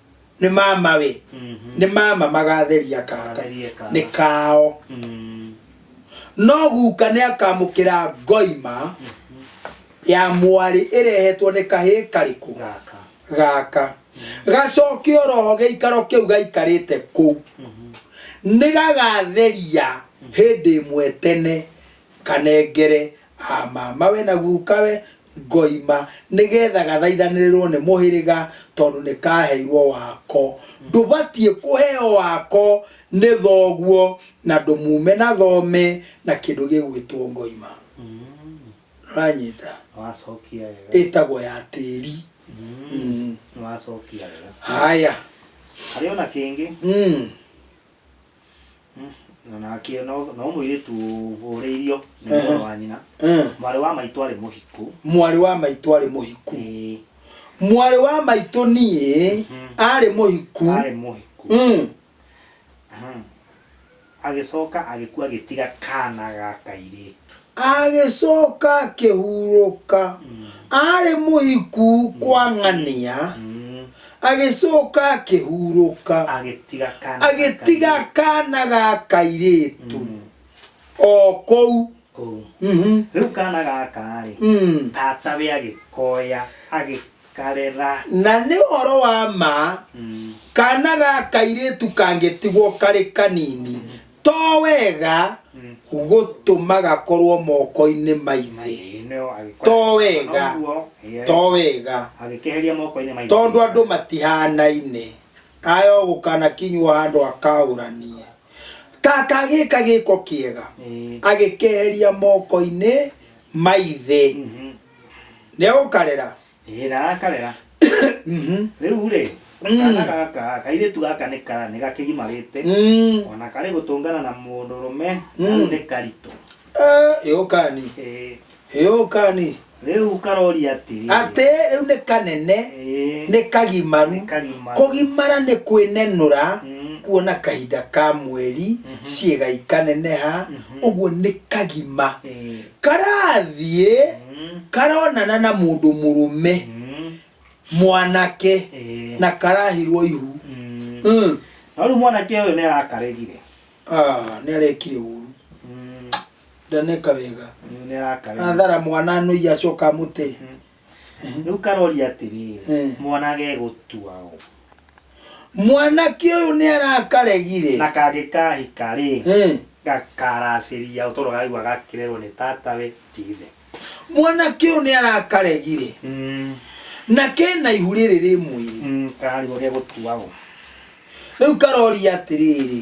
nĩ mama we Mhm. nĩ mama magatheria kaka Magatheria kaka. nĩ kao Mm. no guka nĩ akamũkĩra ngoima ya mwarĩ ĩrehetwo nĩ kahĩ karĩkũ Gaka. gaka gacoke oroho gĩikaro kĩu gaikarĩte kũu Mhm. nĩ gagatheria hĩndĩ ĩmwe tene kanengere A mamawe na gukawe ngoima nĩgetha gathaithanĩrĩrwo nĩ mũhĩrĩga tondũ nĩkaheirwo wako. Ndũbatiĩ kũheo wako nĩ thoguo na ndũmume na thome na kĩndũ gĩgwĩtwo ngoima. Nĩũranyita? Ĩtagwo ya tĩri. Haya. Harĩ ona kĩngĩ? na nake no no mũirĩtu ũhũrĩirio nĩ Ehe. mũrũ wa nyina Eh, mwarĩ wa maitũ arĩ mũhiku mwarĩ wa maitũ arĩ mũhiku Ĩĩ, mwarĩ wa maitũ niĩ Mhm. arĩ mũhiku arĩ mũhiku Mm. Mhm. agĩcoka agĩkua agĩtiga kana ga kairĩtu agĩcoka akĩhurũka arĩ mũhiku kwang'ania agĩcoka akĩhurũka agĩtiga kana agĩtiga kana ga kairĩtu o kũu kũu Mhm. rĩu kana gaka rĩ Mm. tatawe agĩkoya agĩkarera na nĩ ũhoro wa ma Mm. kana ga kairĩtu kangĩtigwo karĩ kanini to wega Mm. gũtũma gakorwo moko-inĩ ma ithe Maithe-inĩ nĩo agĩkora- To wega. Noguo, ĩĩ, to wega agĩkeheria moko-inĩ ma ithe. tondå andå matihanaine aya å gå kana kinywo handå akaåranie tata gä ka gä ko kä ega Ĩĩ, agä keheria moko-inä maithä Mhm. nä å karera ĩĩ rara karera Mhm. rĩu rĩ Mm. kana gaka kairĩtu gaka nĩ ka nĩ gakĩgimarĩte Mm. ona karĩ gũtũngana na mũndũrũme Mm. rĩu nĩ karitũ Eh, yũkani Ĩĩ, yũkani rĩu karoria atĩrĩ atĩ rĩu nĩ kanene Ĩĩ, nĩ kagimaru nĩ kagimaru. kũgimara nĩ kwĩnenũra Mm, kuona kahinda ka mweri Mhm. ciĩga ikaneneha Mhm. ũguo nĩ kagima ĩĩ, karathiĩ Mm. karonana na mũndũ mũrũme Mm. mwanake Eh. na karahirwo ihu Mm. Mm. No rĩu mwanake ũyũ nĩ arakaregire Ah, nĩ arekire ũru Mm. ndaneka wega Rĩu nĩ arakaregire athara mwana anoia acoka amũte Mm. rĩu karori atĩrĩ Eh. mwana gegũtua ũ mwanake ũyũ nĩ arakaregire na kangĩkahika rĩ Eh. gakaracĩria ũtoro gaigua gakĩrerwo nĩ tatawe tithe mwanake ũyũ nĩ arakaregire na kena ihu rĩrĩ rĩ mwĩrĩ karigwo gegũtua ũ rĩu karoria atĩrĩrĩ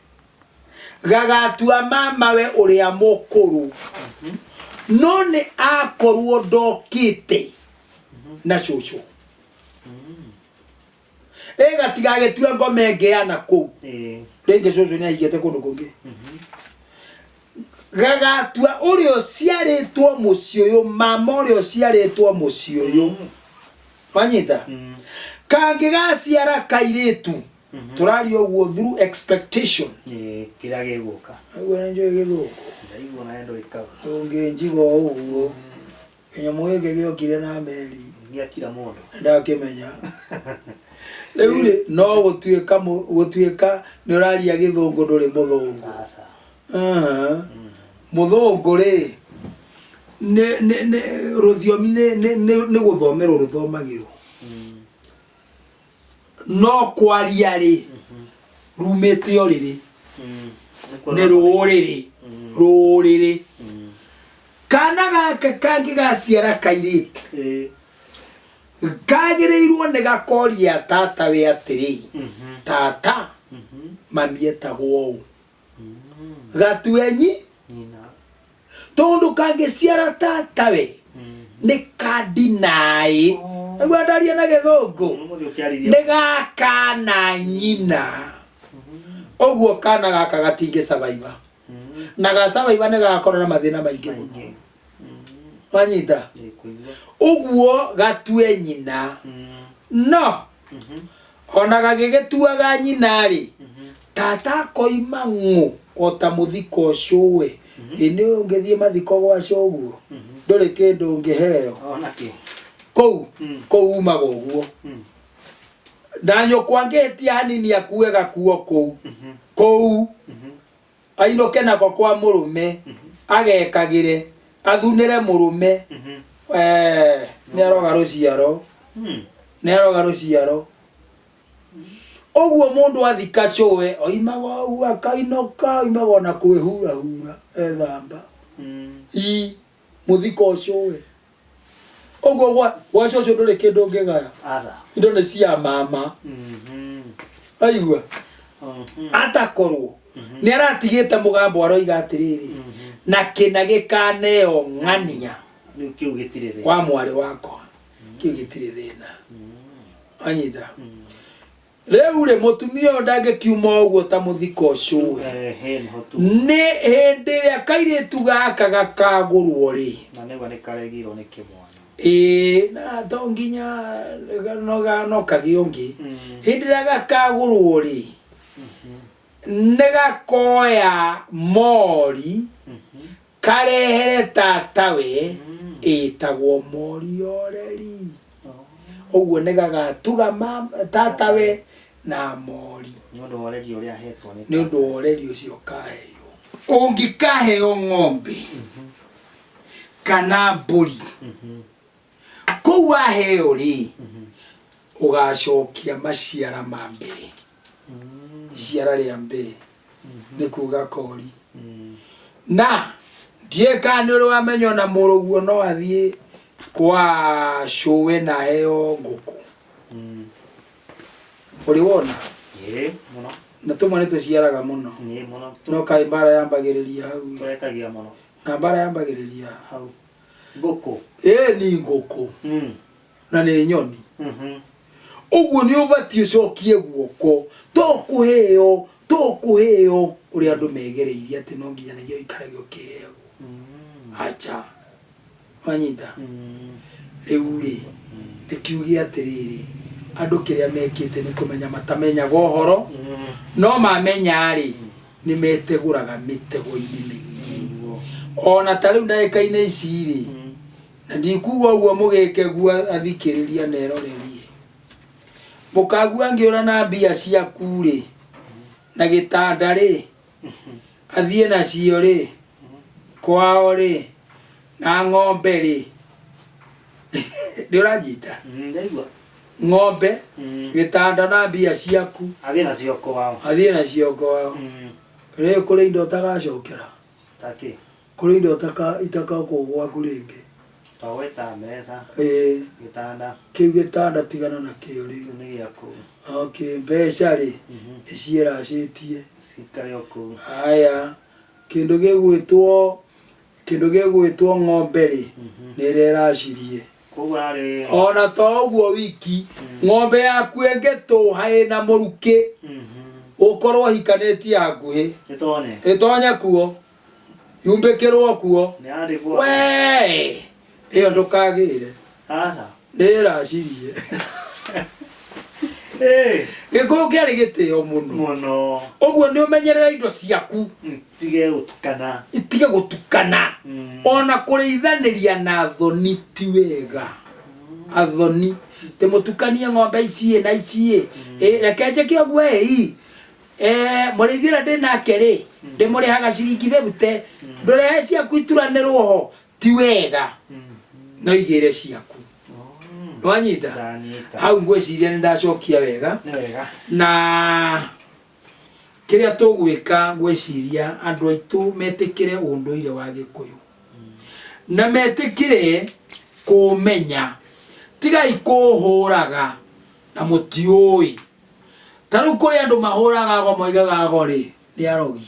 gagatua mamawe ũrĩa mũkũrũ no nĩ akorwo ndokĩte na cũcũ ĩ gatigagĩtue ngome ngeana kũu Eh. rĩngĩ cũcũ nĩ aigĩte kũndũ kũngĩ gagatua ũrĩa ũciarĩtwo mũciĩ ũyũ mama ũrĩa ũciarĩtwo mũciĩ ũyũ wanyita Mm. kangĩgaciara kairĩtu Mhm. tũraria ũguo through expectation Ĩ, kĩrĩa gĩgũka nĩguo nĩnjũĩ gĩthũngũ ndaigua nayo ndũikaga tũngĩnjiga o ũguo kĩnyamũ gĩkĩ gĩokire na meri gĩakira mũndũ ndakĩmenya rĩu rĩ no gũtuĩka mũ- gũtuĩka nĩ ũraria gĩthũngũ ndũrĩ mũthũngũ aca Aha. mũthũngũ rĩ nĩ- nĩ- nĩ- rũthiomi nĩ- nĩ- nĩ nĩ gũthomerwo rũthomagĩrwo no kwaria rĩ rumĩte ũrĩrĩ nĩ rũũrĩrĩ rũũrĩrĩ kana gaka kangĩ gaciara kairĩtu kagĩrĩirwo nĩ gakoria tata we atĩrĩ tata mami etagwo ũũ gatuenyi tondu kangiciara tatawe ni kandinai niguo ndarie na githungu ni gaka na nyina uguo kana gaka gatingicabaiba na gacabaiba ni gakorwo na mathina maingi muno manyita Nĩkũigua. ũguo gatue nyina Mm, no mhm, ona gagĩgĩtuaga nyina-rĩ mhm. tata akoima ng'ũ o ta mũthiko ũcũwe ĩ nĩ ũyũ ũngĩthiĩ mathiko gwaca ũguo Mhm. ndũrĩ kĩndũ ũngĩheo Ona kĩ. kũu Mm. kũu umaga ũguo Mm, na nyũkwa angĩhĩtia hanini akue gakuo kũu mhm, kũu mhm. Ainũke nako kwa mũrũme agekagĩre athunĩre mũrũme eh, nĩ aroga rũciaro nĩ aroga rũciaro ũguo mũndũ athika cũe oimaga ũguo akainũka oimaga ona kwĩhurahura ethamba i mũthiko cũe ũguo gwa- gwacio ũcio ndũrĩ kĩndũ ũngĩgaya aca indo nĩ cia mama Mhm. aigua Mhm. atakorwo nĩ aratigĩte mũgambo aroiga atĩrĩrĩ Mhm. na kĩna gĩkaneo ng'ania rĩu kĩu gĩtirĩ thĩ wa mwarĩ wakwa kĩu gĩtirĩ thĩna anyita Rĩu rĩ, mũtumia ũyũ ndangĩkiuma ũguo ta mũthika ũcũĩ. Eh, he nĩho tu Nĩ hĩndĩ ĩrĩa kairĩtu gaka gakagũrwo rĩ, na nĩguo nĩ karegirwo nĩ kĩmwana ĩĩ, na to nginya no ga- no kagĩe ũngĩ. Mm. Hĩndĩ ĩrĩa gakagũrwo rĩ, nĩ gakoya mori Mhm. Karehere tatawe ĩtagwo Morioreri. Ũguo nĩ gagatuga mama- tatawe na mori nĩ ũndũ wa ũreri ũrĩa ahetwo nĩ nĩ ũndũ wa ũreri ũcio kaheirwo. Ũngĩkaheo ng'ombe kana mbũri kũu waheo rĩ ũgacokia maciara ma mbere iciara rĩa mbere nĩ kuga kori na ndiũĩ kana nĩ ũrĩ wamenya ona mũrũguo no athiĩ kwa cũwe na heo ngũkũ ũrĩ wona Ĩĩ, mũno na tũmwe nĩ tũciaraga mũno nĩ mũno no kaĩ mbara yambagĩrĩria hau ĩ. tũrekagia mũno na mbara yambagĩrĩria hau ngũkũ ĩĩ ni ngũkũ Mm. na nĩ nyoni Mhm. ũguo nĩ ũbatiĩ ũcokie guoko to kũheo to kũheo ũrĩa andũ megereirie atĩ no nginyanagia ũikarage ũkĩheo Mm. acha wanyita Mm. rĩu rĩ ndĩkiuge atĩrĩrĩ andũ kĩrĩa mekĩte nĩ kũmenya matamenyaga ũhoro Mm. no mamenya rĩ nĩ metegũraga mĩtego-inĩ mĩingĩ ona ta rĩu ndagĩka-inĩ ici rĩ na ndikuga ũguo mũgĩkegua athikĩrĩria na erorerie mũkagua ngĩũra na mbia ciaku rĩ na gĩtanda rĩ athiĩ nacio rĩ kwao rĩ na ng'ombe rĩ nĩ ũranjita Mm, ndaigua ng'ombe Mm, gĩtanda na mbia ciaku athiĩ nacio kwao athiĩ nacio ngwao Mm, rĩu kũrĩ indo ũtagacokera takĩ kũrĩ indo ũtaka- itakakwo gwaku rĩngĩ twagweta mbeca Ĩĩ, gĩtanda kĩu gĩtanda tigana na kĩo rĩu kĩu nĩ gĩaku okay mbeca rĩ Mhm, nĩ ciĩracĩtie cikare o kũu haya kĩndũ gĩgwĩtwo Kĩndũ gĩgwĩtwo ng'ombe-rĩ, nĩ ĩrĩa ĩracirie. Koguo ararĩ... O na to ũguo wiki, ng'ombe yaku ĩngĩtũũha ĩ na mũrukĩ, ũkorwo ũhikanĩtie hakuhĩ, ĩtonye kuo, yumbĩkĩrwo kuo, wee! ĩyo ndũkagĩre aca nĩĩracirie Eh, gĩkũyũ kĩarĩ gĩtĩo mũno mũno ũguo nĩ ũmenyerera indo ciaku Mm, tige gũtukana itige gũtukana Mm. ona kũrĩithanĩria na thoni ti wega athoni tä må tukanie ng'ombe iciä na iciä reke njäke å guo ä må rä ithuä ndä nake rä ndä må rä haga ciringi bä rute ndå rehe ciaku ituranä rwo ho ti wega no igĩre ciaku nĩwanyita ndanyita hau ngwĩciria nĩ ndacokia wega nĩ wega na kĩrĩa tũgwĩka ngwĩciria andũ aitũ metĩkĩre ũndũire wa gĩkũyũ na metĩkĩre kũũmenya tigai kũũhũraga na mũtiũĩ ta rĩu kũrĩ andũ mahũraga go moigaga go rĩ nĩ arogi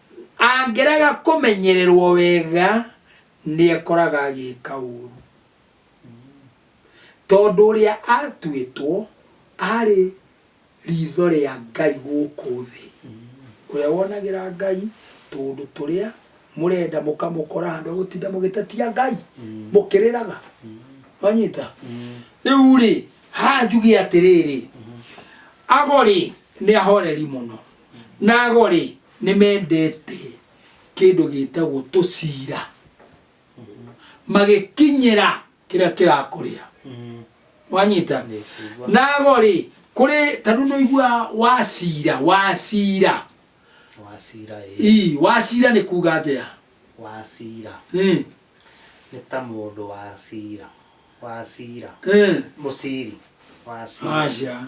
Angĩrega kũmenyererũo wega, nĩ ekoraga agĩka ũũru. Tondũ ũrĩa aatuĩtwo arĩ riitho rĩa Ngai gũkũ thĩ, ũrĩa wonagĩra Ngai tũũndũ tũrĩa mũrenda mũkamũkora handũ ha gũtinda mũgĩtetia Ngai, mũkĩrĩraga. Mwanyita? Rĩu-rĩ, haha njuge atĩrĩrĩ, Ago-rĩ, nĩ ahoreri mũno. Nago-rĩ, nĩmendete kĩndũ gĩtagwo tũcira, magĩkinyĩra kĩrĩa kĩrakũrĩa. Wanyita? Nago-rĩ, kũrĩ ta rĩu nĩũiguaga wacira, wacira. Wacira ĩĩ. Ii, wacira nĩ kuuga atĩa? Wacira. Ĩĩ. Nĩ ta mũndũ wacira, wacira. Ĩĩ. Mũciri, wacira. Aca.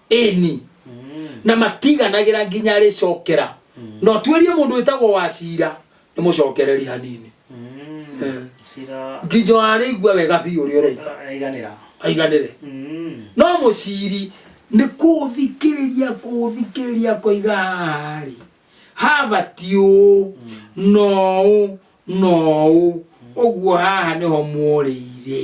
ĩni na matiganagĩra nginya rĩcokera no tuĩrie mũndũ wĩtagwo wa cira nĩ mũcokereri hanini Eh. cira nginya arĩigua wega biũ ũrĩa ũroiga aiganĩra aiganĩre Mm. no mũciri nĩ kũthikĩrĩria kũthikĩrĩria koiga harĩ habati ũũ noũ noũ ũguo haha nĩho mũrĩire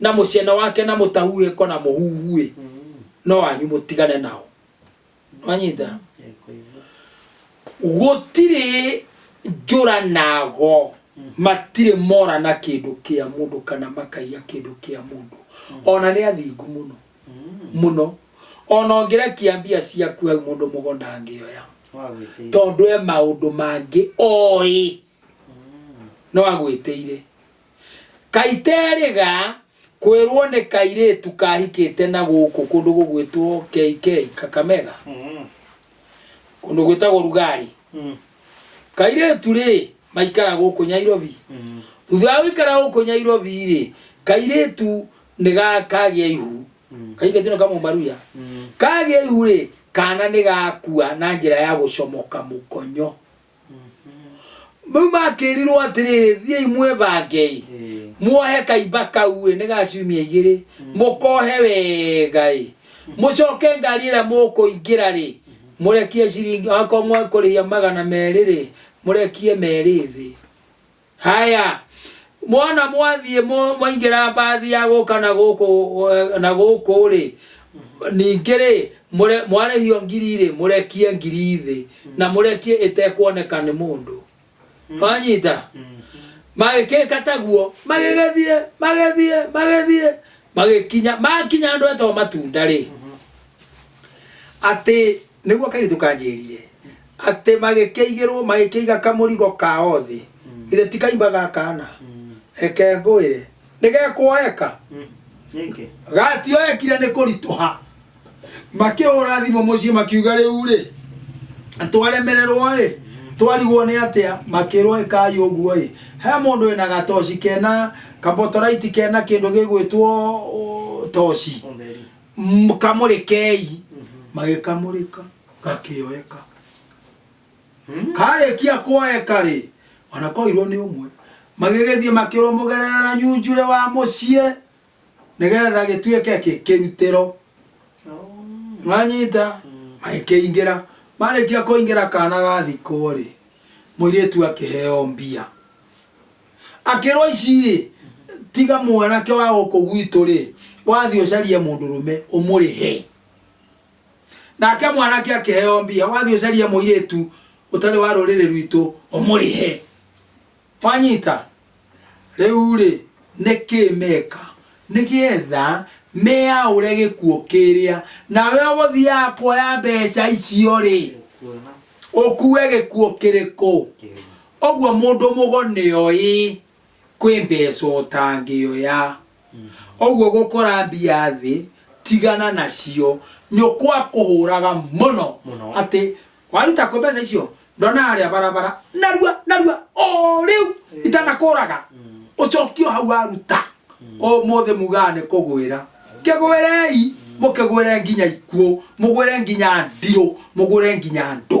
na mũcene wake na mũtahuhĩko na mũhuhuĩ no wanyu mũtigane nao nwanyita gũtirĩ njũranago matirĩ mora na kĩndũ kĩa mũndũ kana makaiya kĩndũ kĩa mũndũ ona nĩ athingu mũno mũno ona ũngĩrekia mbia ciaku hau mũndũ mũgo ndangĩoya tondũ e maũndũ mangĩ oĩ no agwĩtĩire kaĩ terĩga kwĩrwo nĩ kairĩtu kahikĩte na gũkũ kũndũ gũgwĩtwo KK Kakamega Mm. kũndũ gwĩtagwo Rugari Mm. kairĩtu rĩ maikara gũkũ Nyairobi Mm. thutha wa gũikara gũkũ Nyairobi rĩ kairĩtu nĩ ga- kagĩa ihu Mm. kairĩtu nĩ kamũmaruya Mm. kagĩa ihu rĩ kana nĩ gakua na njĩra ya gũcomoka mũkonyo rĩu makĩrirwo atĩrĩrĩ thiĩi mwĩbangei muohe kaimba kau ĩ nĩ gaciumia igĩrĩ mũkohe wega ĩ mũcoke ngari ĩrĩa mũkũingĩra rĩ mũrekie ciringi akorwo mwekũrĩhia magana merĩ rĩ mũrekie merĩ thĩ Haya, mwana mwathiĩ mũ- mwaingĩra mbathi ya gũka na gũkũ eh, na gũkũ rĩ ningĩ rĩ mũre- mwarĩhio ngiri rĩ mũrekie ngiri thĩ na mũrekie ĩtekuoneka nĩ mũndũ wanyita magĩkĩka taguo magĩgĩthiĩ magĩthiĩ magĩthiĩ magĩkinya makinya andũ etwa matunda rĩ atĩ nĩguo kairĩtu kanjĩrire atĩ magĩkĩigĩrwo magĩkĩiga kamũrigo kao thĩ githĩ ti kaimba gakana reke ngwĩre nĩgekwoeka Nĩkĩ? gatioekire nĩ kũritũha makĩhũra thimũ mũciĩ makiuga rĩu rĩ twaremererwo ĩ twarigwo nĩ atĩa makĩrwo ĩkai ũguo ĩ he mũndũ wĩna gatoci kena kambotoraiti kena kĩndũ gĩgwĩtwo ũ, toci Ũtheri. M- kamũrĩkei magĩkamũrĩka gakĩoeka karĩkia kwoeka rĩ wanakoirwo nĩ ũmwe magĩgĩthiĩ makĩrũmũgerera na nyunjure wa mũciĩ nĩgetha gĩtuĩke kĩ- kĩrutĩro mwanyita magĩkĩingĩra marĩkia kũingĩra kana gathikwo rĩ mũirĩtu akĩheo mbia akĩrwo ici rĩ tiga mwanake wa gũkũ gwitũ rĩ wathiĩ ũcarie mũndũrũme ũmũrĩhe nake mwanake akĩheo mbia wathiĩ ũcarie mũirĩtu ũtarĩ wa rũrĩrĩ rwitũ ũmũrĩhe wanyita rĩu rĩ nĩkĩ meka nĩgetha meyaũre gĩkuũ kĩrĩa nawe ũgũthiaga kuoya mbeca icio rĩ Kuona ũkue gĩkuũ kĩrĩkũ kĩrĩa. ũguo mũndũ mũgo nĩoĩ kwĩ mbeca ũtangĩoya ũguo gũkora mbia thĩ tigana nacio nyũkwa akũhũraga mũno Mũno. atĩ waruta kũ mbeca icio ndona harĩa barabara narua narua o rĩu itanakũraga ũcokio hau waruta ũmũthĩ mugaga nĩ kũgwĩra kĩgwĩrei mũkĩgwĩre nginya ikuũ mũgwĩre nginya ndirũ mũgwĩre nginya ndũ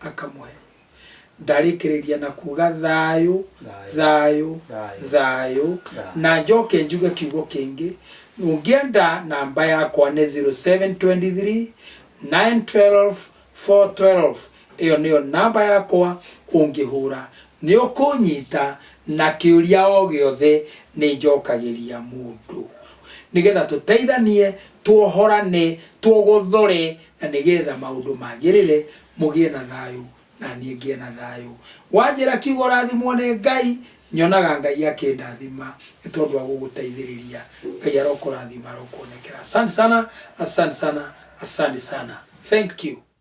akamũhe ndarĩkĩrĩria na kuga thayũ Thayũ. thayũ Thayũ. thayũ Thayũ. na njoke njuge kiugo kĩngĩ ũngĩenda namba yakwa nĩ 0723 912 412 ĩyo nĩyo namba yakwa ũngĩhũra nĩ ũkũnyita na kĩũria o gĩothe nĩ njokagĩria mũndũ nĩgetha tũteithanie tuohorane tuogothore na nĩ getha maũndũ magĩrĩre, mũgĩe na thayũ, na niĩ ngĩe na thayũ. Wanjĩra kiugo ũrathimwo nĩ Ngai, nyonaga Ngai akĩndathima nĩ tondũ wa gũgũteithĩrĩria. Ngai arokũrathima, arokuonekera. Asante sana, asante sana, asante sana. Thank you.